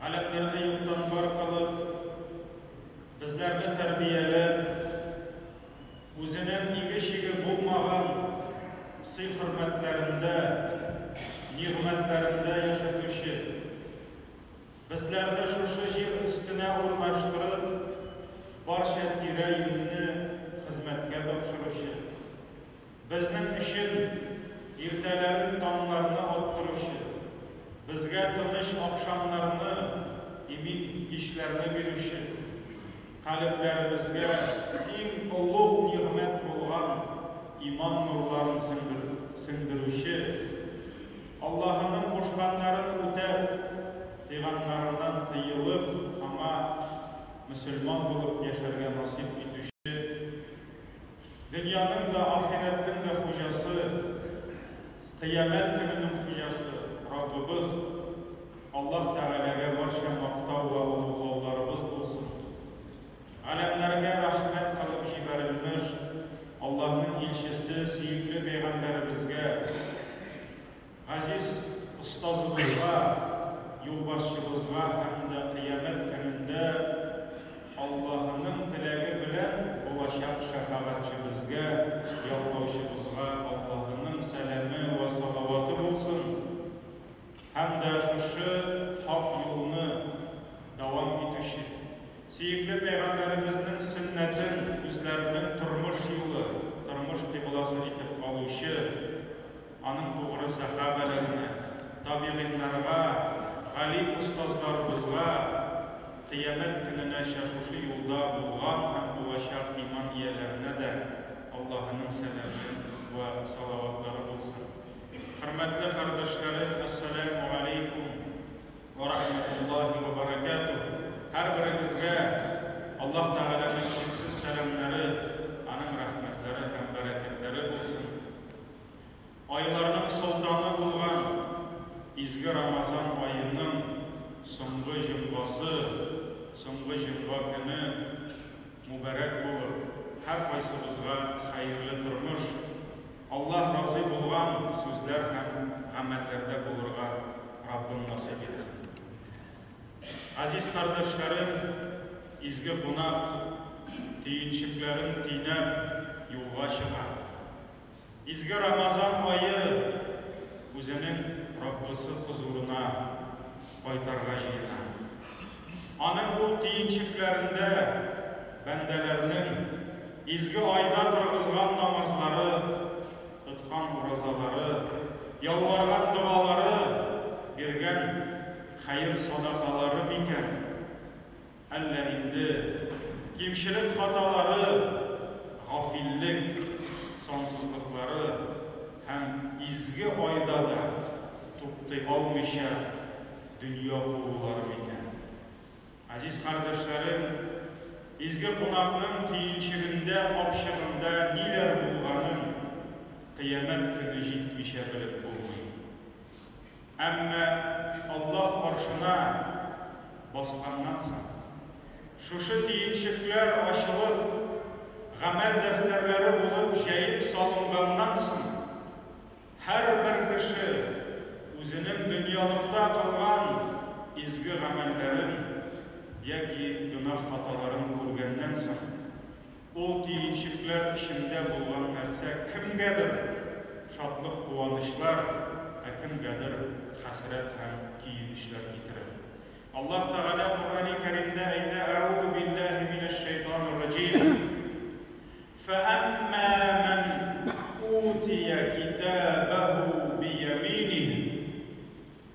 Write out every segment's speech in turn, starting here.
Галекләрне юктан бар кылып, безләрне тәрбияләп, үзенең иге-чиге булмаган сый-хөрмәтләрендә, нигъмәтләрендә яшәтүче, безләрне шушы җир өстенә урнаштырып, барча тирә-юньне хезмәткә тапшыручы, Безнең өчен иртәләрен таңнарны аттыручы, безгә тыныч ахшамнарны, имин кичләрне бирүче, калебләребезгә иң олуг нигъмәт булган иман нурларын сеңдерүче, Аллаһының кушканнарын үтәп, тыйганнарыннан тыелып, аңа мөселман булып яшәргә насыйп итүче, Дөньяның да, ахирәтнең дә хуҗасы, кыямәт көненең хуҗасы, Раббыбыз Аллаһ Тәгаләгә барча мактау вә олуглауларыбыз булсын! Галәмнәргә рәхмәт кылып җибәрелмеш Аллаһның илчесе, сөекле пәйгамбәребезгә! Газиз остазыбызга, юлбашчыбызга һәм дә кыямәт көнендә Аллаһының теләге белән булачак шәфәгатьчебезгә, яклаучыбызга Аллаһының сәламе вә салаваты булсын һәм дә шушы хак юлны дәвам итүче, сөекле пәйгамбәребезнең сөннәтен үзләренең тормыш юлы, тормыш кыйбласы итеп алучы, Аның тугры сәхабәләренә, табигыйннарга, галим остазларыбызга Кыямәт көненәчә шушы юлда булган һәм булачак иман ияләренә дә Аллаһының сәламе вә салаватлары булсын. Хөрмәтле кардәшләрем, Әссәләмү галәйкүм вә рахмәтуллаһи вә бәрәкәтүһ! Һәрберегезгә Аллаһ Тәгаләнең чиксез сәламнәре, Аның рәхмәтләре һәм бәрәкәтләре булсын! Айларның солтаны булган изге Рамазан аеның соңгы җомгасы, соңгы җомга көне мубәрәк булып, һәркайсыбызга хәерле тормыш, Аллаһ разый булган сүзләр һәм гамәлләрдә булырга Раббым насыйп итсен. Газиз кардәшләрем, изге кунак, төенчекләрен төйнәп, юлга чыга. Изге Рамазан ае үзенең Раббысы хозурына кайтарга җыена. Аның бу төенчекләрендә бәндәләрнең изге айда торгызган намазлары, тоткан уразалары, ялварган догалары, биргән хәер-садакалары микән? Әллә инде кимчелек-хаталары, гафиллек, сансызлыклары һәм изге айда да туктый алмыйча дөнья куылулары микән? Азиз кардәшләрем, изге кунакның төенчегендә, капчыгында ниләр булганын Кыямәт көне җитмичә белеп булмый. Әмма Аллаһ гаршына басканнан соң, шушы төенчекләр ачылып, гамәл дәфтәрләре булып җәеп салынганнан соң, һәрбер кеше үзенең дөньялыкта кылган изге гамәлләрен яки гөнаһ-хаталарын күргәннән соң, Ул төенчекләр эчендә булган нәрсә кемгәдер шатлык-куанычлар, ә кемгәдер хәсрәт һәм көенечләр китерер. Аллаһ Тәгалә Коръәни Кәримдә әйтә, Әгузу билләһи минәш шәйтанир раҗим. Фәәмма мән утия китабәһу бияминиһ.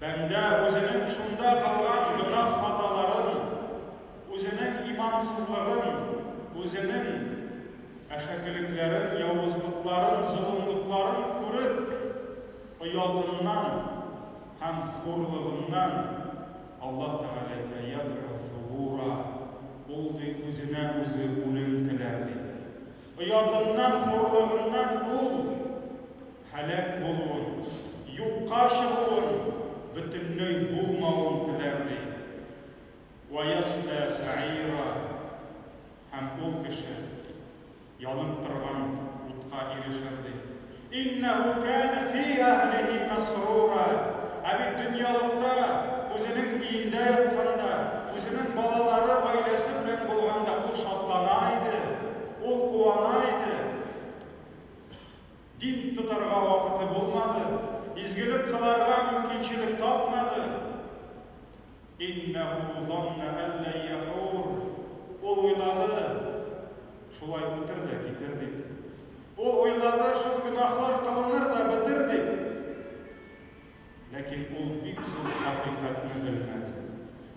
Бәндә үзенең шунда кылган гөнаһ-хаталарын, үзенең имансызлыгын, үзенең әшәкелекләрен, явызлыкларын, золымлыкларын күреп, оятыннан һәм хурлыгыннан Аллаһ Тәгаләгә, Ядгу Сугура, ул, ди, үзенә үзе үлем теләр, ди. Оятыннан, хурлыгыннан ул, һәлак булуын, юкка чыгуын, бөтенләй булмавын теләр, ди Ваясля Сәгыйра һәм ул кеше янып торган утка ирешер, ди Иннәһү кәнә фи әһлиһи мәсрура Ә бит дөньялыкта, үзенең өендә ятканда, үзенең балалары, гаиләсе белән булганда ул шатлана иде, ул куана иде. Дин тотарга вакыты булмады, изгелек кыларга мөмкинчелек тапмады. Иннәһу занна ән лән яхур. Ул уйлады, шулай үтер дә китер дип. Ул уйлады, шул гөнаһлар кылыныр да бетер дип. Ләкин ул бик зур хакыйкатьне белмәде.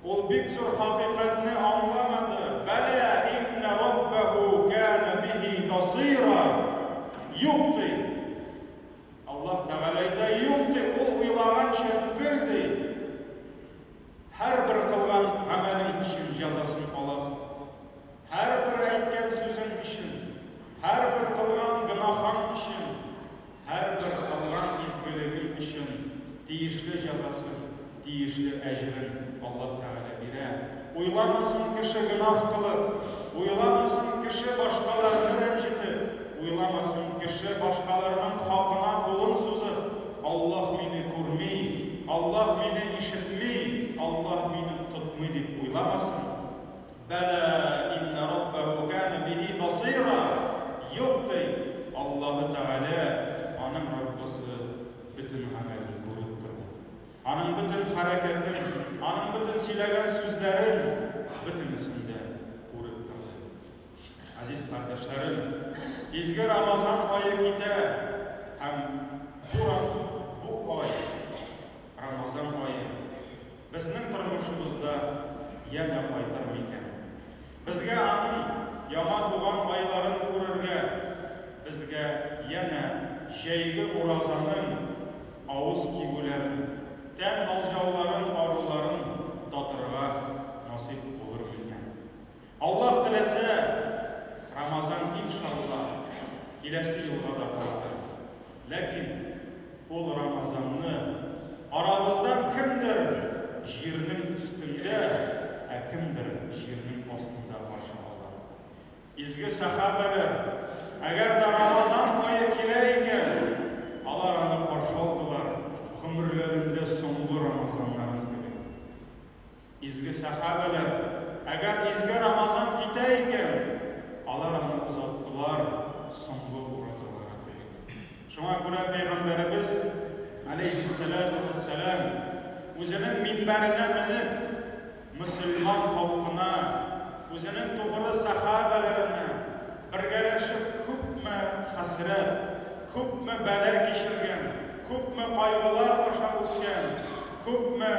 Ул бик зур хакыйкатьне аңламады. Бәлә инна раббаху кана бихи басира. Юк ди. Аллаһ Тәгалә әйтә, юк ди, ул уйлаганча түгел ди. Һәрбер кылган гамәлең өчен җәзасын аласың. Һәрбер әйткән сүзең өчен, һәрбер кылган гөнаһың өчен, һәрбер кылган изгелегең өчен тиешле җәзасын, тиешле әҗерен Аллаһ Тәгалә бирә. Уйламасын кеше гөнаһ кылып, уйламасын кеше башкаларны рәнҗетеп, уйламасын кеше башкаларның хакына кулын сузып, Аллаһ мине күрми, Аллаһ мине ишетми, Аллаһ мине тотмый дип уйламасын. Бәлә иннә Раббәһү кәнә бихи басыйра, Юк, ди, Аллаһы Тәгалә, аның Раббысы, бөтен гамәлен күреп тора. Аның бөтен хәрәкәтен, аның бөтен сөйләгән сүзләрен, бөтенесен дә күреп тора. Газиз кардәшләрем, изге Рамазан ае китә һәм бу, бу ай Рамазан ае безнең тормышыбызда янә кайтыр микән? Безгә аның яңа туган айларын күрергә, безгә янә җәйге уразаның авыз кибүләрен, тән алҗауларын-аруларын татырга насыйп булыр микән? Аллаһ теләсә, Рамазан иншалла киләсе елга да калды. Ләкин ул Рамазанны арабыздан кемдер җирнең өстендә, ә кемдер җирнең астында каршы ала. Изге сәхабәләр, әгәр дә Рамазан ае килә икән, алар аны каршы алдылар, гомерләрендә соңгы Рамазаннарын кебек. Изге сәхабәләр, әгәр изге Рамазан китә икән, алар аны озаттылар, соңгы уразалары дип. Шуңа күрә пәйгамбәребез, алейһиссәләтү вәссәлам, үзенең минбәренә менеп, мөселман халкына, үзенең тугры сәхабәләренә бергәләшеп күпме хәсрәт, Күпме бәла кичергән, күпме кайгылар аша үткән, күпме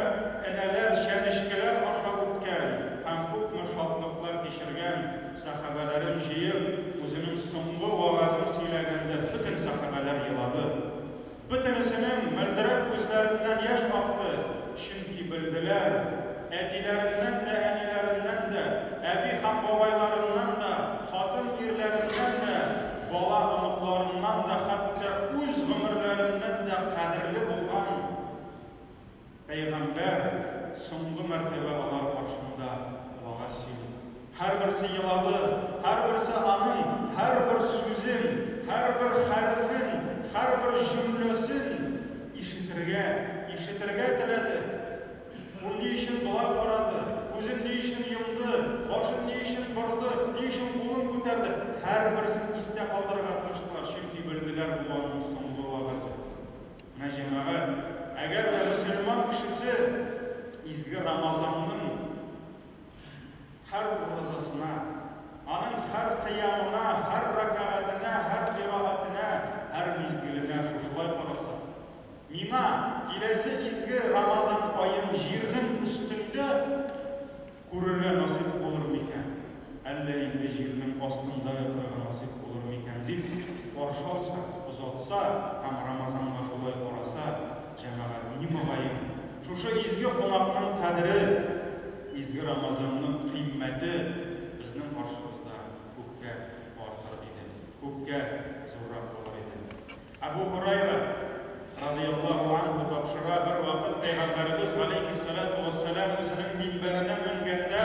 энәләр, чәнечкеләр аша үткән һәм күпме шатлыклар кичергән сәхабәләрен җыеп, үзенең соңгы вәгазен сөйләгәндә бөтен сәхабәләр елады. Бөтенесенең мөлдерәп күзләреннән яшь акты. Чөнки белделәр, әтиләреннән дә, әниләреннән дә, әби һәм бабайларыннан да, хатын-ирләреннән дә, бала-оныкларыннан да, хәтта үз гомерләреннән дә кадерле булган Пәйгамбәр соңгы мәртәбә алар каршында вәгазь сөйли. Һәрберсе елады, һәрберсе аның һәрбер сүзен, һәрбер хәрефен, һәрбер җөмләсен ишетергә, ишетергә теләде. Ул ни өчен болай карады, күзен ни өчен йомды, башын ни өчен борды, ни өчен кулын күтәрде, һәрберсен истә калдырырга тырыштылар, чөнки белделәр, бу аның соңгы вәгазе. Менә, җәмәгать, әгәр дә мөселман кешесе изге Рамазанның Һәр уразасына, аның һәр кыямына, һәр рәкәгатенә, һәр кыйраатенә, һәр мизгеленә шушылай карасаң, миңа киләсе изге Рамазан аен җирнең өстендә күрергә насыйп булыр микән, әллә инде җирнең астында ятарга насыйп булыр микән дип каршы алса, озатса һәм Рамазанга шулай караса, Җәмәгать, мени могаен, шушы изге кунакның кадере, изге Рамазанның кыйммәте безнең каршыбызда күпкә артыр иде, күпкә зуррак булыр иде. Әбу Һурайра, радыяллаһу анһу, тапшыра, бервакыт Пәйгамбәребез, галәйһиссәләтү вәссәлам, үзенең минбәренә менгәндә,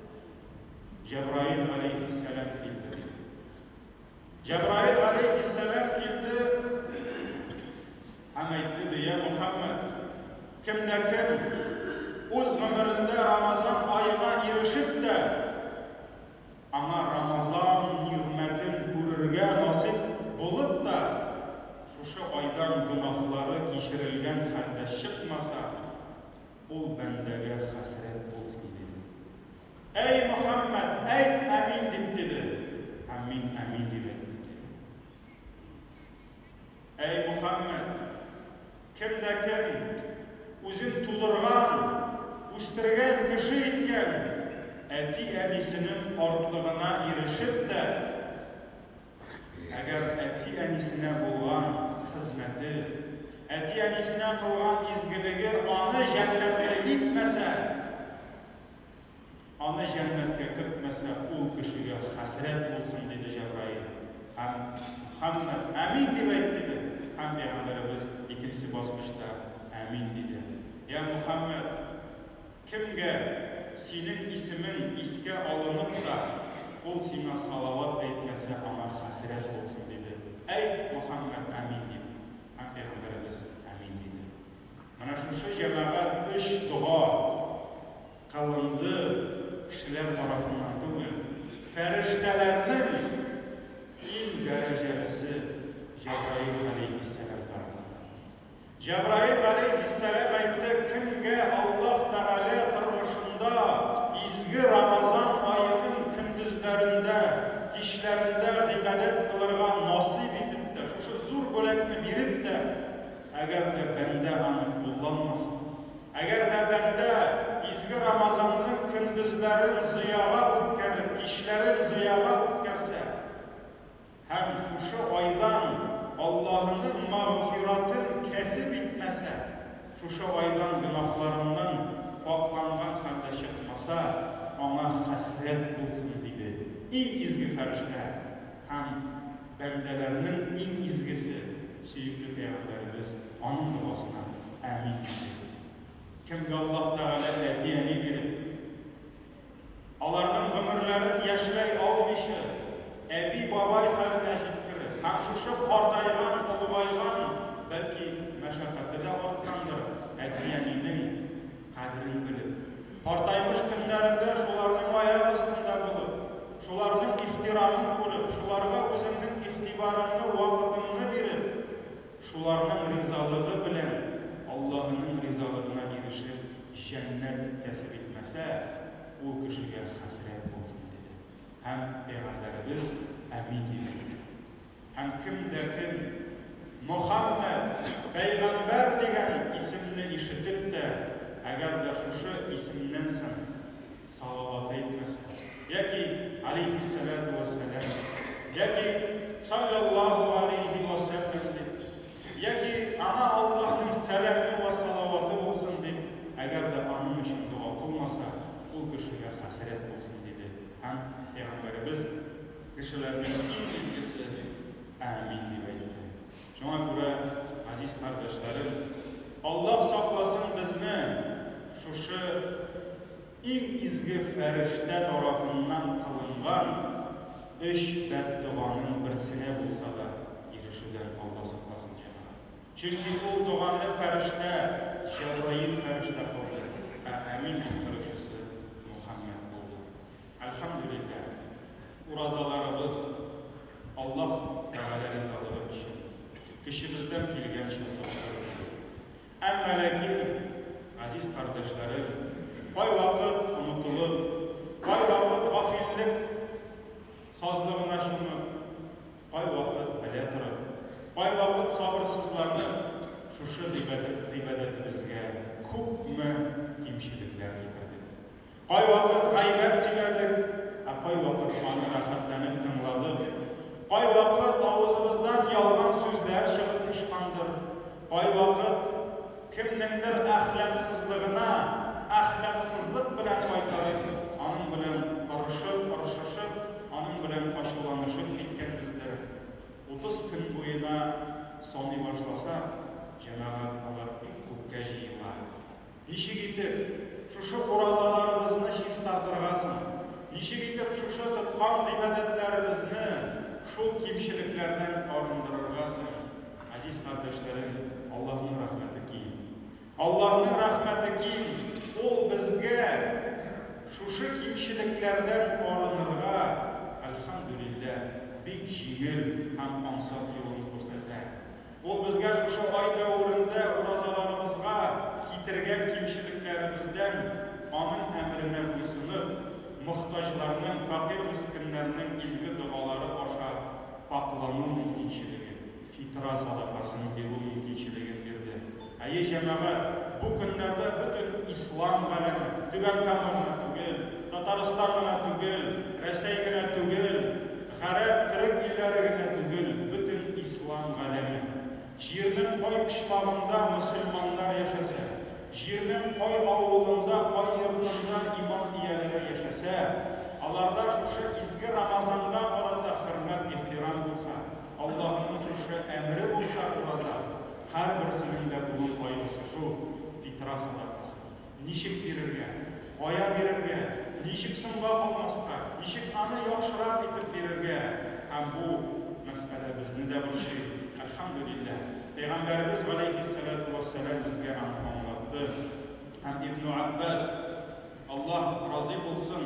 Җәбраил галәйһиссәлам килде ди. Җәбраил галәйһиссәлам килде һәм әйтте ди, я Мухаммад, кемдә кем үз гомерендә Рамазан аена ирешеп тә, аңа Рамазан нигъмәтен күрергә насыйп булып та, шушы айдан гөнаһлары кичерелгән хәлдә чыкмаса, Ул бәндәгә хәсрәт булсын, диде. Әй Мөхәммәд, әйт әмин! дип диде. Һәм мин әмин дип әйттем, диде. Әй Мөхәммәд, кем дә кем үзен тудырган, үстергән, кеше иткән әти-әнисенең картлыгына ирешеп тә, Әгәр әти-әнисенә булган хезмәте, әти-әнисенә кылган изгелеге аны җәннәткә илтмәсә, аны җәннәткә кертмәсә, ул кешегә хәсрәт булсын, диде Җәбраил. Һәм Мөхәммәд Әмин дип әйт, диде. Һәм Пәйгамбәребез икенче баскычта Әмин диде. Йә Мөхәммәд! Кемгә синең исемең искә алынып та, ул сиңа салават әйтмәсә, аңа хәсрәт булсын, диде. Әйт, Мөхәммәт, Әмин! дип. Һәм пәйгамбәребез Әмин! диде. Менә шушы җәмәгать өч дога кылынды, кешеләр тарафыннан түгел, фәрештәләрнең иң дәрәҗәлесе Җәбраил галәйһиссәлам тарафыннан. Җәбраил галәйһиссәлам әйтте, Кемгә Аллаһ Тәгалә тормышында изге Рамазан аеның көндезләрендә, кичләрендә гыйбадәт кылырга насыйп итеп тә, шушы зур бүләкне биреп тә, әгәр дә бәндә аны кулланмаса, әгәр дә бәндә изге Рамазанның көндезләрен зыяга үткәреп, кичләрен зыяга үткәрсә, Һәм шушы айдан Аллаһының мәгъфиратын кәсеп итмәсә, шушы айдан гөнаһларыннан пакъланган хәлдә чыкмаса, аңа хәсрәт булсын, диде иң изге фәрештә һәм бәндәләрнең иң изгесе, сөекле пәйгамбәребез аның догасына әмин диде. Кемгә Аллаһ Тәгалә әти-әни биреп. Аларның гомерләрен яшьләй алмыйча, әби-бабай хәленә җиткерер һәм шушы картайган, олыгайган, бәлки, мәшәкате дә арткандыр, әти-әнинең кадерен белеп, картаймыш көннәрендә шуларның аяк астында булып, шуларның ихтирамын күреп, шуларга үзеңнең игътибарыңны, вакытыңны биреп, Шуларның ризалыгы белән Аллаһының ризалыгына ирешеп, җәннәт кәсеп итмәсә, ул кешегә хәсрәт булсын, диде. Һәм Пәйгамбәребез Әмин дип әйтте. Һәм кем дә кем Мөхәммәд, пәйгамбәр дигән исемне ишетеп тә, әгәр дә шушы исемнән соң, Салават әйтмәсә, яки Алейһиссәләтү вәссәлам, яки Салләллаһу алейһи вә сәлләм дип, яки Аңа Аллаһның сәламе вә салаваты булсын дип, әгәр дә аның өчен дога кылмаса, ул кешегә хәсрәт булсын, диде һәм Пәйгамбәребез, Кешеләрнең иң изгесе, Әәмин дип әйтте. Шуңа күрә, газиз кардәшләрем, Аллаһ сакласын безне шушы иң изге фәрештә тарафыннан кылынган өч бәддоганың берсенә булса да ирешүдән Аллаһ сакласын, җәмәгать. Чөнки ул доганы фәрештә Җәбраил фәрештә кылды, ә Әмин кылдыручысы Мөхәммәд булды. Әлхәмдүлилләһ, уразаларыбыз Аллаһ Тәгалә ризалыгы өчен, көчебездән килгәнчә тапшырылды. Әмма ләкин, газиз кардәшләрем, кайвакыт онытылып, кайвакыт гафиллек сазлыгына чумып, кайвакыт белә торып, кайвакыт сабырсызланып, шушы гыйбадәтебезгә күпме кимчелекләр китердек. Кайвакыт гайбәт сөйләдек, ә кайвакыт аны рәхәтләнеп тыңладык. Кайвакыт авызыбыздан ялган сүзләр чыгып очкандыр. Кайвакыт кемнеңдер әхлаксызлыгына әхлаксызлык белән кайтарып, аның белән орышып, орышышып, аның белән ачуланышып киткәнбездер. Утыз көн буена саный башласак, җәмәгать алар бик күпкә җыела. Ничек итеп шушы уразаларыбызны чистартырга соң? Ничек итеп шушы тоткан гыйбадәтләребезне шул кимчелекләрдән арындырырга соң? Азиз кардәшләрем, Аллаһның рәхмәте киң. Аллаһның рәхмәте киң, Ул безгә шушы кимчелекләрдән арынырга, әлхәмдүлилләһ, бик җиңел һәм ансат юлын күрсәтә. Ул безгә шушы ай дәверендә уразаларыбызга китергән кимчелекләребездән, аның әмеренә буйсынып, мохтаҗларның, фәкыйрь-мескеннәрнең изге догалары аша пакълану мөмкинчелеген, фитра садакасын бирү мөмкинчелеген бирде. Әйе, җәмәгать, бу көннәрдә бөтен ислам галәме, Түбән Кама гына түгел, Татарстан гына түгел, Рәсәй генә түгел, гарәп, төрек илләре генә түгел, бөтен ислам галәме. Җирнең кай почмагында мөселманнар яшәсә, җирнең кай авылында, кай йортында иман ияләре яшәсә, аларда шушы изге Рамазанга карата хөрмәт-ихтирам булса, Аллаһының шушы әмере булса, ураза, Һәрберсенең дә бүген кайгысы шул, Питраса да кызы. Ничек бирергә? Кая бирергә? Ничек соңга калмаска? Ничек аны яхшырак итеп бирергә? Һәм бу мәсьәлә безне дә борчый. Әлхәмдүлилләһ, пәйгамбәребез галәйһиссәләтү вәссәлам безгә аны аңлатты. Һәм Ибне Аббас, Аллаһ разый булсын!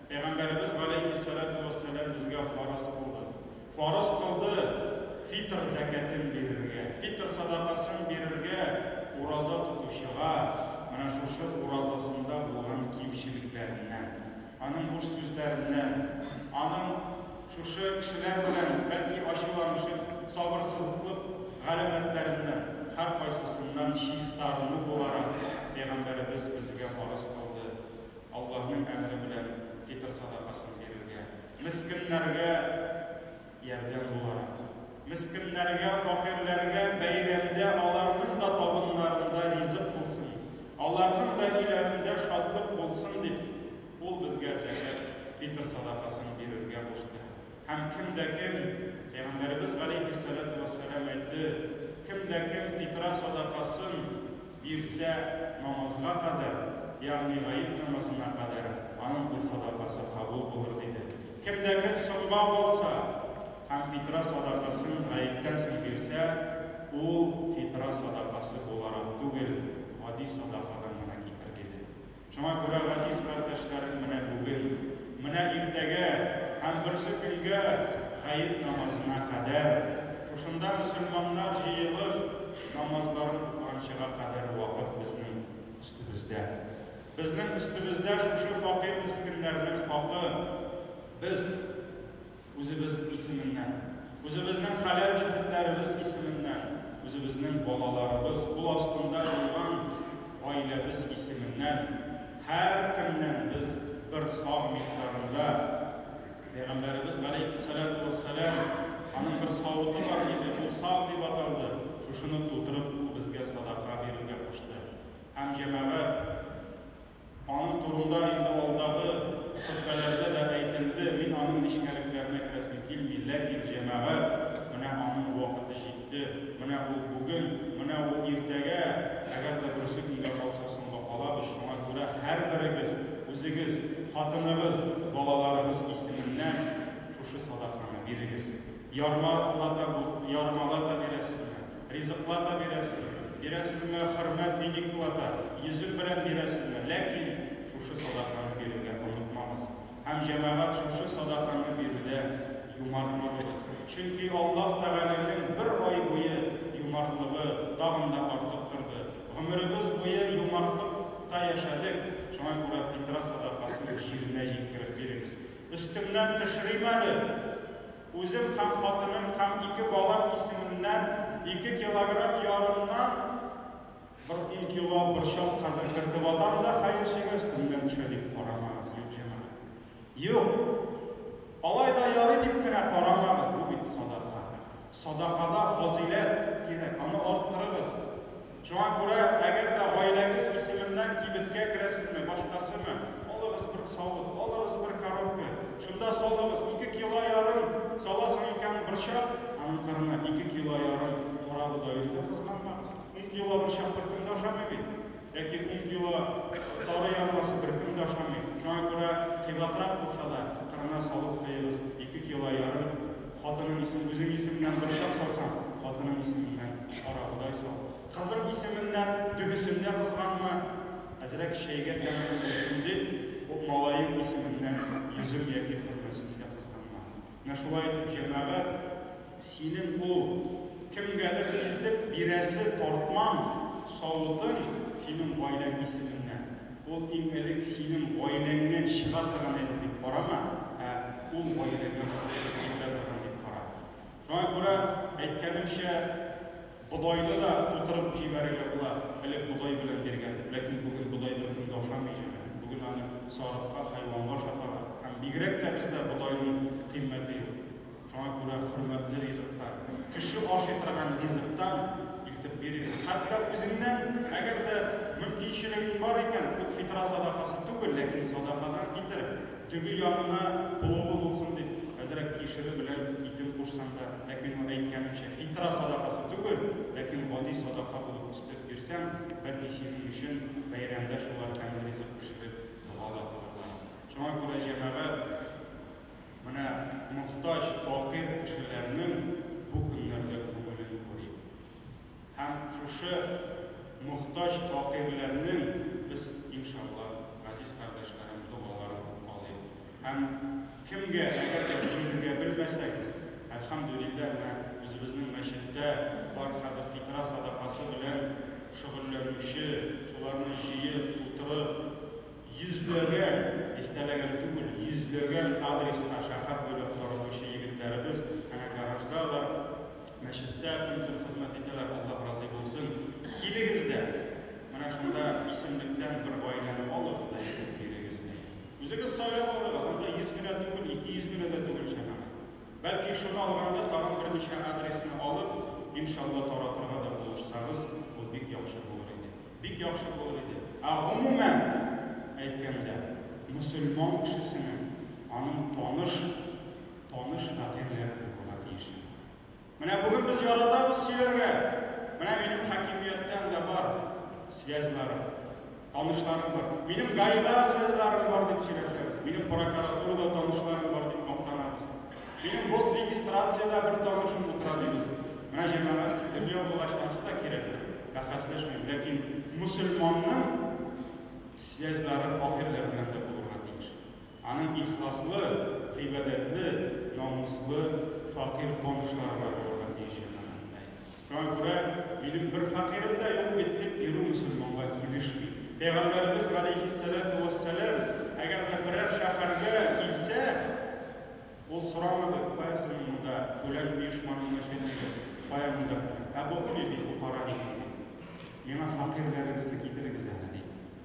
Пәйгамбәребез галәйһиссәләтү вәссәлам безгә фарыз кылды. Фарыз кылды фитр зәкәтен бирергә. Фитр садакасын бирергә ураза тотучыга менә шушы уразасында булган кимчелекләреннән, аның буш сүзләреннән, аның шушы кешеләр белән бәлки ачуланышып, сабырсызлык галәмәтләреннән һәркайсысыннан чистарыну буларак, пәйгамбәребез безгә фарыз кылды. Аллаһның әмере белән фитыр садакасын бирергә, мескеннәргә ярдәм буларак. Мескеннәргә, факирләргә бәйрәмдә аларның да табыннарында ризык булсын, аларның да өйләрендә шатлык булсын дип, ул безгә зәкят, фитыр садакасын бирергә кушты. Һәм кем дә кем, Пәйгамбәребез галәйһиссәләтү вәссәлам әйтте, кем дә кем фитра садакасын бирсә, намазга кадәр, ягъни гает намазына кадәр аның ул садакасы кабул булыр, диде. Кем дә кем соңга калса һәм фитра садакасын гаеттән соң бирсә, ул фитра садакасы буларак түгел, гади садакадан гына китер, диде. Шуңа күрә газиз кардәшләрем менә бүген, менә иртәгә һәм берсе көнгә гает намазына кадәр, шушында мөселманнар җыелып, намазларын укыганчыга кадәр вакыт безнең өстебездә. Безнең өстебездә шушы факир-мескеннәрнең хакы. Без. Үзебез исеменнән, үзебезнең хәләл җефетләребез исеменнән, үзебезнең балаларыбыз кул астында булган гаиләбез исеменнән һәркемнән без бер савм микъдарында, Пәйгамбәребез галәйһиссәләтү вәссәлам, аның бер савыты бар иде, ул савм дип аталды, шушыны тутырып, ул безгә садака бирергә кушты. Һәм җәмәгать. Аның турында инде алдагы хөтбәләрдә дә әйтелде, мин аның нечкәлекләренә керәсем килми, ләкин, җәмәгать, менә аның вакыты җитте, менә ул бүген, менә ул иртәгә, әгәр дә берсе көнгә калса, соңга калабыз, шуңа күрә һәрберегез үзегез, хатыныгыз, балаларыгыз исеменнән шушы садаканы бирегез. Ярма лата бу, ярмалата бирәсезме, Ризыклар да бирәсең, бирәсеңме, хөрмәт миникылар да, йөзек белән бирәсеңме, ләкин шушы садаканы бирергә онытмагыз. Һәм, җәмәгать, шушы садаканы бирүдә юмарт булыгыз. Чөнки Аллаһ Тәгаләнең бер ай буе юмартлыгы тагын да артып торды. Гомеребез буе юмартлыкта яшәдек, шуңа күрә фитра садакасын җиренә җиткереп бирегез. Өстемнән төшерим әле. Үзем һәм хатыным һәм ике балам исеменнән ике килограмм ярымнан бер ун кило борчак хәзер кертеп атам да, хәерчегә өстемдән төшә дип карамагыз, юк, җәмәгать. Юк! Алай да ярый дип кенә карамагыз, бу бит садака. Садакада фазыйләт кирәк, аны арттырыгыз. Шуңа күрә, әгәр дә гаиләгез исеменнән кибеткә керәсезме, башкасымы, алыгыз бер савыт, алыгыз бер коробка, шунда салыгыз, ике кило ярым саласың икән борчак, аның кырына ике кило ярым кара бодайны да кызганмагыз. Ун кило борчак беркем дә ашамый бит. Яки ун кило тары ярмасы беркем дә ашамый. Шуңа күрә, кыйбатрак булса да, кырына савыт куегыз, ике кило ярым. Хатының исеме, үзең исеменнән борчак салсаң, хатының исеменнән карагыдай сал. Кызың исеменнән дөбесен дә кызганма. Әзрәк чәйгә тәме булсын дип, бу малаең исеменнән йөзем яки хөрмәсен дә кызганма. Менә шулай итеп, җәмәгать, синең ул кемгәдер илтеп бирәсе тартмаң, савытың синең гаиләң исеменнән. Ул иң элек синең гаиләңнән чыга торган әйбер дип карама, ә ул гаиләгә Ходай китерә торган дип кара. Шуңа күрә, әйткәнемчә, бодайны да тутырып җибәрергә була. Элек бодай белән биргән, ләкин бүген бодай беркем дә ашамый җибә. Бүген аны сарыкка, хайванга ашаталар. Һәм бигрәк тә бездә бодайның кыйммәте юк. Шуңа күрә хөрмәтле ризыктан, кеше ашый торган ризыктан илтеп бирегез. Хәтта үзеңнән, әгәр дә мөмкинчелегең бар икән, ул фитра садакасы түгел, ләкин садакадан китер, теге ягына болынгы булсын дип, әзрәк кишере белән итен кушсаң да, ләкин ул әйткәнемчә, фитра садакасы түгел, ләкин гади садака булып үстереп бирсәң, бәлки синең өчен бәйрәмдә шулар тәмле ризык пешереп дога да кылырлар. Шуңа күрә, җәмәгать! Менә мохтаҗ, факир кешеләрнең бу көннәрдә күңелен күрик. Һәм шушы мохтаҗ, факирләрнең без, иншалла, газиз кардәшләрем, догаларын алыйк. Һәм кемгә, әгәр дә җиңергә белмәсәгез, әлхәмдүлилләһ, менә үзебезнең мәчеттә бар хәзер фитра садакасы белән шөгыльләнүче, шуларны җыеп, тутырып, Йөзләгән, дистәләгән түгел, йөзләгән адреска шәһәр буйлап таратучы егетләребез әнә гаражда алар, мәчеттә көн-төн хезмәт итәләр, Аллаһ разый булсын. Килегез дә, менә шунда исемлектән бер гаиләне алыгыз да җыеп бирегез дә. Үзегез сайлап алыгыз, анда йөз генә түгел, ике йөз генә дә түгел җәмәгать. Бәлки шуны алганда тагын берничә адресны алып, иншалла таратырга да булышсагыз, ул бик яхшы булыр иде. Бик яхшы булыр иде. Ә гомумән әйткәндә, мөселман кешесенең аның таныш, таныш фатирләре булырга тиеш. Менә бүген без яратабыз сөйләргә. Менә минем хакимияттән дә бар связьларым, танышларым бар. Минем гаилә связьларым бар дип сөйләшәбез. Минем прокуратурада танышларым бар дип мактанабыз. Җыен боз диңгез станциядә бер тамырчык утыра дибез. Менә җырлана дип дөнья булгач ансы да кирәктер, бәхәсләшмим, ләкин мөселманның связьлары факирләр белән дә булырга тиеш. Аның ихласлы, гыйбадәтле, намуслы факир танышлары да булырга тиеш җырлана. Шуңа күрә минем бер фәкыйрем дә юк бит, дип бирү мөселманга килешми. Пәйгамбәребез галәйһиссәләтү вәссәлам, әгәр дә берәр шәһәргә килсә, ул сорамады, кая соң монда фүлән оешманың начальнигы, кая монда фүлән, ә бу нинди фукара, диде. Миңа фәкыйрьләрегезне китерегез әле, диде.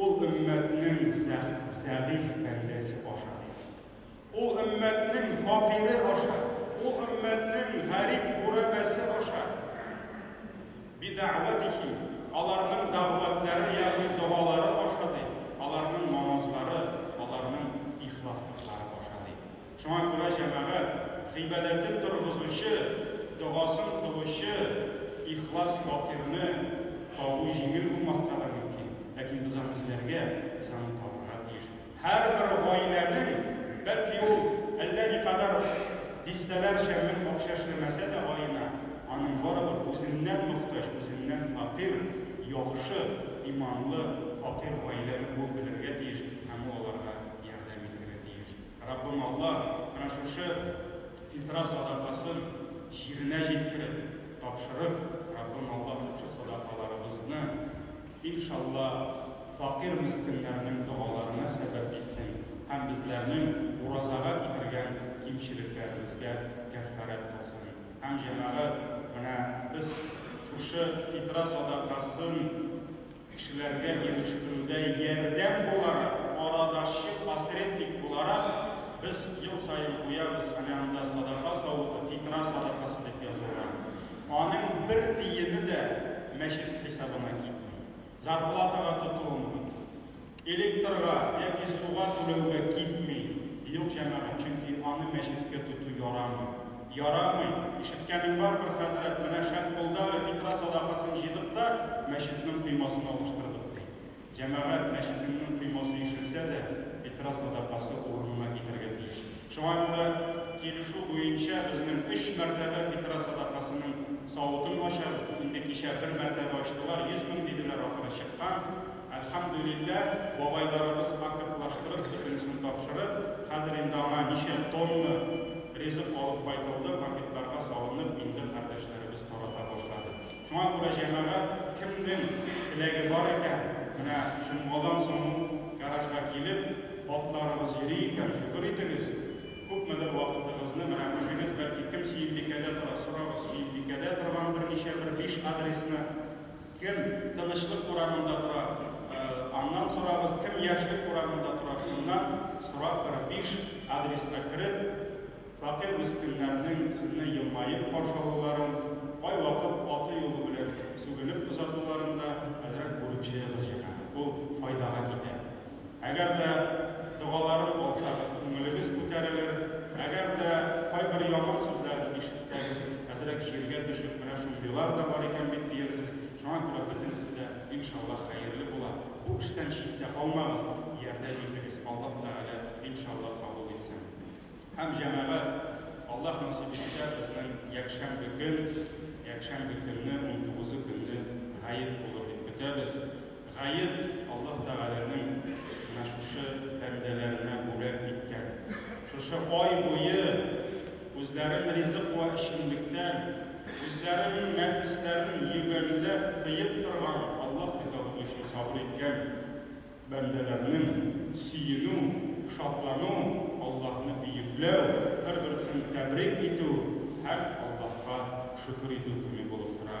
Ул өммәтнең зәгыйфь бәндәсе аша ди. Ул өммәтнең факире аша, ул өммәтнең гарип гурәбәсе аша. Бидәгъвәтихи, аларның дәгъвәтләре, ягъни догалары аша ди, аларның намазлары, аларның ихласлыклары аша ди. Шуңа күрә җәмәгать гыйбадәтен торгызучы, догасын кылучы ихлас фатирны табу җиңел булмаска да мөмкин, ләкин без аны эзләргә, без аны табарга тиеш. Һәрбер гаиләнең, бәлки ул әллә никадәр дистәләрчә мең акча эшләмәсә дә аена, аның барыбер үзеннән мохтаҗ, үзеннән фәкыйрь, яхшы, иманлы, фатир гаиләне куып белергә тиеш һәм ул аларга ярдәм итәргә тиеш. Раббым Аллаһ менә шушы фитра садакасын җиренә җиткереп тапшырып, Раббым Аллаһ шушы садакаларыбызны, иншалла, факир мескеннәрнең догаларына сәбәп итсен һәм безләрнең уразага китергән кимчелекләребезгә кәффарәт кылсын. Һәм, җәмәгать, менә без шушы фитра садакасын Кешеләргә җитештерүдә ярдәм буларак, арадашчы, посредник буларак, без ел саен куябыз, әнә анда садака савыты, фитра садакасы дип язылган. Аның бер тиене дә мәчет хисабына китми. Зарплатага тотуым юк. Электрга яки суга түләүгә китми, юк, җәмәгать, чөнки аны мәчеткә тоту ярамый. Ярамый! Ишеткәнең барбер, хәзрәт, менә шәп булды әле, фитра садакасын җыйдык та, мәчетнең коймасын алыштырдык, ди. Җәмәгать, мәчетеңнең коймасы ишелсә дә, фитра садакасы урынына китәргә тиеш. Шуңа күрә килешү буенча безнең өч мәртәбә фитра садакасының савытын ачабыз. Инде кичә бер мәртәбә ачтылар, йөз мең диделәр, ахыры чыккан. Әлхәмдүлилләһ, бабайларыбыз акыртлаштырып бөтенесен тапшырып, хәзер инде аңа ничә тонна ризык алып кайтылды, пакетларга салынып, инде кардәшләребез тарата башлады. Шуңа күрә җәмәгать, кемнең теләге бар икән, менә җомгадан соң ук гаражга килеп, атларыбыз йөри икән, шөкер итегез, күпмедер вакытыгызны, менә үзегез, бәлки, кем Сөембикәдә тора, сорагыз, Сөембикәдә торган берничә, бер биш адресны, Кем Тынычлык урамында тора? Аннан сорагыз, кем Яшьлек урамында тора? Шуннан сорап бер биш адреска кереп, фәкыйрь мескеннәрнең сезне елмаеп каршы алуларын, кайвакыт аты юлы белән сүгенеп озатуларын да әзрәк бүлеп җыегыз җыйган. Ул файдага китә. Әгәр дә догалары кылсагыз, күңелегез күтәрелер, әгәр дә кайбер яман сүзләр ишетсәгез, әзрәк җиргә төшеп, менә шундыйлар да бар икән бит диерсез, шуңа күрә бөтенесе дә, иншаллаһ, хәерле була. Бу эштән читтә калмагыз, ярдәм итегез, Аллаһ Тәгалә, иншаллаһ, кабул итсен. Һәм, җәмәгать, Аллаһ насыйп итсә, безнең якшәмбе көн, якшәмбе көнне, унтугызы көнне гает булыр дип көтәбез. Гаеп Аллаһ Тәгаләнең менә шушы бәндәләренә бүләк иткән, шушы ай буе үзләрен ризык вә эчемлектән, үзләренең нәфесләрен йөгәнләп тыеп торган, Аллаһ риза булу өчен сабыр иткән бәндәләрнең сөенү, шатлану, Аллаһны бөекләү, бер-берсен тәбрик итү һәм Аллаһка шөкер итү көне булып тора.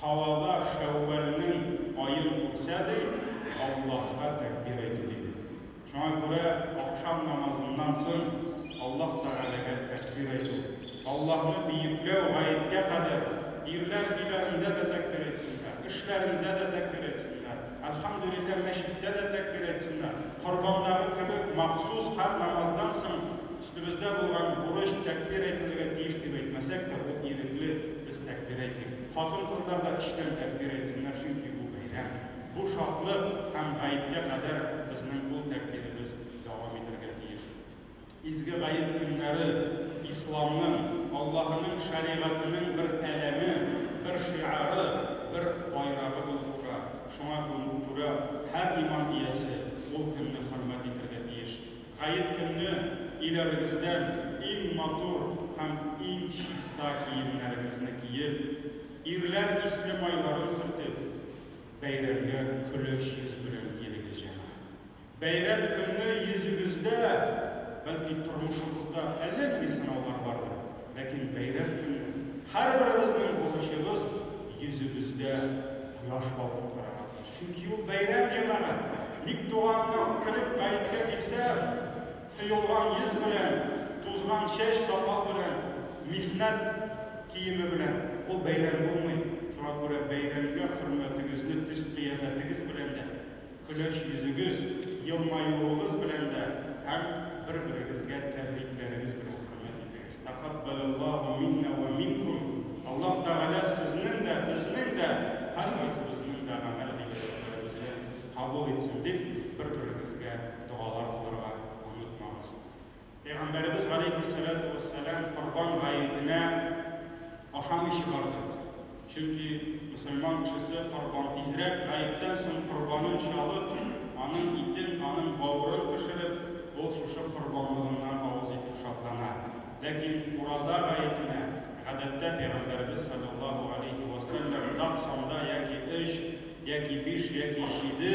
Һавада Шәүвәлнең аен күрсә ди, Аллаһка тәкбир әйтү иде. Шуңа күрә ахшам намазыннан соң Аллаһ Тәгаләгә тәкбир әйтү, Аллаһны биекләү гаеткә кадәр, ирләр өйләрендә дә тәкбир әйтсеннәр, эшләрендә дә тәкбир әйтсеннәр, Әлхәмдүлилләһ мәчеттә дә тәкбир әйтсеннәр, корбандагы кебек махсус һәр намаздан соң Өстебездә булган бурыч тәкъбир әйтелергә тиеш дип әйтмәсәк тә, ул ирекле, без тәкъбир әйтик. Хатын-кызлар да эчтән тәкъбир әйтсеннәр, чөнки бу бәйрәм. Бу шатлык һәм гаеткә кадәр безнең ул тәкъбиребез дәвам итәргә тиеш. Изге гает көннәре, исламның, Аллаһының шәригатенең бер әләме, бер шиары, бер байрагы булып тора. Шуңа күрә һәр иман иясе ул көнне хөрмәт итәргә тиеш. Гает көнне өйләрегездән иң матур һәм иң чиста киемнәрегезне киеп, ирләр исле майларын сөртеп, бәйрәмгә көләч йөз белән килегез, җәмәгать. Бәйрәм көнне йөзегездә, бәлки тормышыгызда әллә нинди сынаулар бардыр, ләкин бәйрәм көнне һәрберебезнең бурычыбыз йөзебездә кояш балкып торырга тиеш. Чөнки ул бәйрәм җырлары ник туганның кереп гаеткә китсә, коелган йөз белән, тузган чәч сакал белән, михнәт киеме белән ул бәйрәм булмый. Шуңа күрә бәйрәмгә хөрмәтегезне төс-кыяфәтегез белән дә, көләч йөзегез, елмаюыгыз белән дә һәм бер-берегезгә тәбрикләрегез белән хөрмәт итегез. Тәкаббәләллаһу миннә вә минкум Аллаһ Тәгалә сезнең дә, безнең дә, һәрмесебезнең дә гамәл-гыйбадәтләребезне кабул итсен дип, бер-берегезгә догалар кылырга онытмагыз. Пәйгамбәребез галәйһиссәләтү вәссәлам Корбан гаетенә ашамыйча барды. Чөнки мөселман кешесе корбан тизрәк гаеттән соң корбанын чалып, аның итен, аның бавырын пешереп, ул шушы корбанлыгыннан авыз итеп шатлана. Ләкин ураза гаетенә, гадәттә, пәйгамбәребез салләллаһу галәйһи вә сәлләм нык санда яки өч, яки биш, яки җиде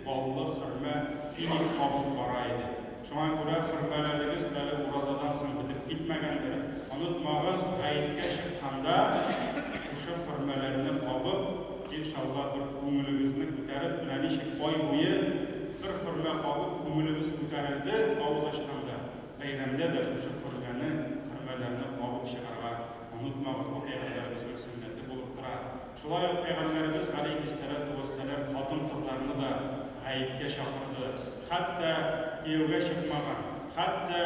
баллы хөрмә, финик кабып бара иде. Шуңа күрә хөрмәләрегез әле уразадан соң бетеп китмәгәндер. Онытмагыз, гаеткә чыкканда, шушы хөрмәләрне кабып, иншалла, бер күңелегезне күтәреп, менә ничек ай буе бер хөрмә кабып, күңелебез күтәрелде, авыз ачканда, бәйрәмдә дә шушы хөрмәне, хөрмәләрне кабып чыгарга онытмагыз, бу Пәйгамбәребезнең сөннәте булып тора. Шулай ук пәйгамбәребез галәйһиссәлату вәссәлам хатын-кызларны да гаеткә чакырды, хәтта кияүгә чыкмаган, хәтта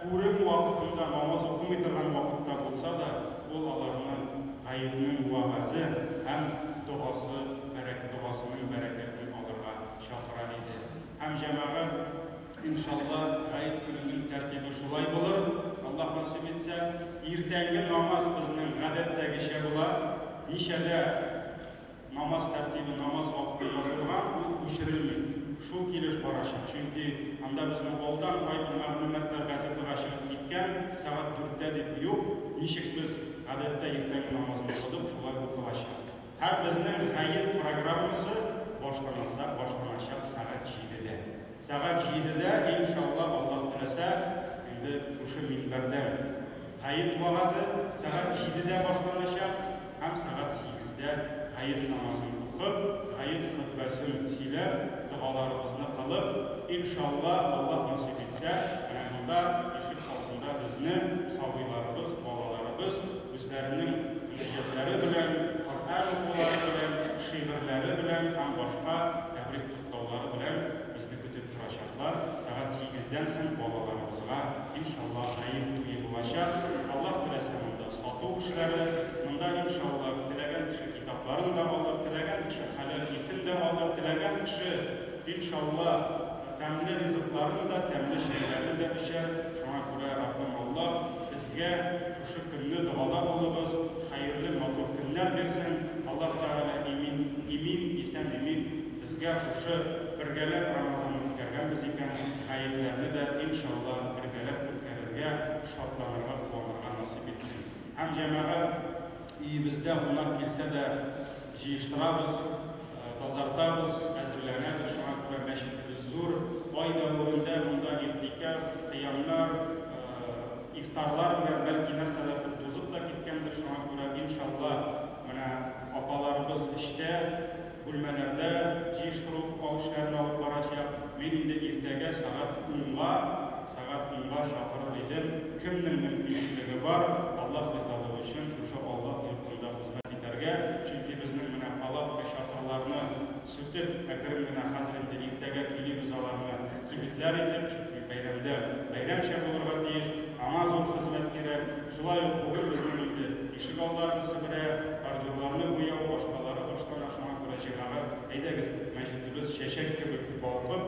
күрем вакытында намаз укымый торган вакытта булса да, ул аларны гаетнең вәгазе һәм догасы бәрәк догасының бәрәкәтен алырга чакыра иде һәм җәмәгать Иншалла, Гает көненең тәртибе шулай булыр, Аллаһ насыйп итсә. Иртәнге намаз безнең гадәттәгечә була. Ничәдә намаз тәртибе, намаз вакыты язылган, ул күчерелми. Шул килеш барачак. Чөнки анда безнең алдан кайбер мәгълүматлар газетага чыгып киткән, сәгать дүрттә дип юк. Ничек без гадәттә иртәнге намазны укыдык, шулай укылачак. Һәм безнең хәер программасы башланасы башланачак сәгать җидедә. Сәгать җидедә, иншалла, Аллаһ теләсә, инде шушы минбәрдән хәер вәгазе сәгать җидедә башланачак һәм сәгать сигездә хәер намазын укып, хәер хөтбәсен сөйләп, догаларыбызны кылып, иншалла, Аллаһ насыйп итсә, менә монда, ишек алдында безнең сабыйларыбыз, балаларыбыз, Үзләренең җөзлекләре белән, Коръән укулары белән, шигырьләре белән һәм башка тәбрик котлаулары белән безне көтеп торачаклар. Сәгать сигездән соң балаларыбызга, иншалла, Гает туе булачак. Аллаһ теләсә, монда сату эшләре, монда, иншалла, теләгән кеше китапларын да алыр, теләгән кеше хәләл итен дә алыр, теләгән кеше, иншалла, тәмле ризыкларын да, тәмле чәйләрен дә эчәр. Шуңа күрә Раббым Аллаһ безгә, Шөкерле догада булыгыз, хәерле матур көннәр бирсен Аллаһ Тәгалә имин имин исән имин безгә шушы бергәләп Рамазанны үткәргәнбез икән, гаетләрне дә иншалла бергәләп үткәрергә, шатланырга куанырга насыйп итсен. Һәм җәмәгать өебездә гунак килсә дә, Җыештырабыз, тазартабыз, әзерләнәбез, шуңа күрә мәчетебез зур. Ай дәверендә монда игътикаф, кыямнар, ифтарлар белән бәлки нәрсәләр тузып та киткәндер, шуңа күрә, иншалла, менә апаларыбыз эчтә, бүлмәләрдә җыештыру эшләрен алып барачак. Мин инде иртәгә сәгать унга, сәгать унга чакырыр идем. Кемнең мөмкинчелеге бар, Аллаһ ризалыгы өчен, шушы Аллаһ йортына. Шунда хезмәт итәргә, чөнки безнең менә палатка, чатырларны сүтеп, әкрен генә хәзер инде иртәгә көйлибез аларны, кибетләр итеп, чөнки бәйрәмдә бәйрәмчә булырга тиеш, аңа зур хезмәт кирәк. Шулай ук бүген безнең инде ишегалларны себерә, бордюрларны буяу, башкалары башлана, шуңа күрә җәмәгать, әйдәгез, мәчетебез чәчәк кебек балкып,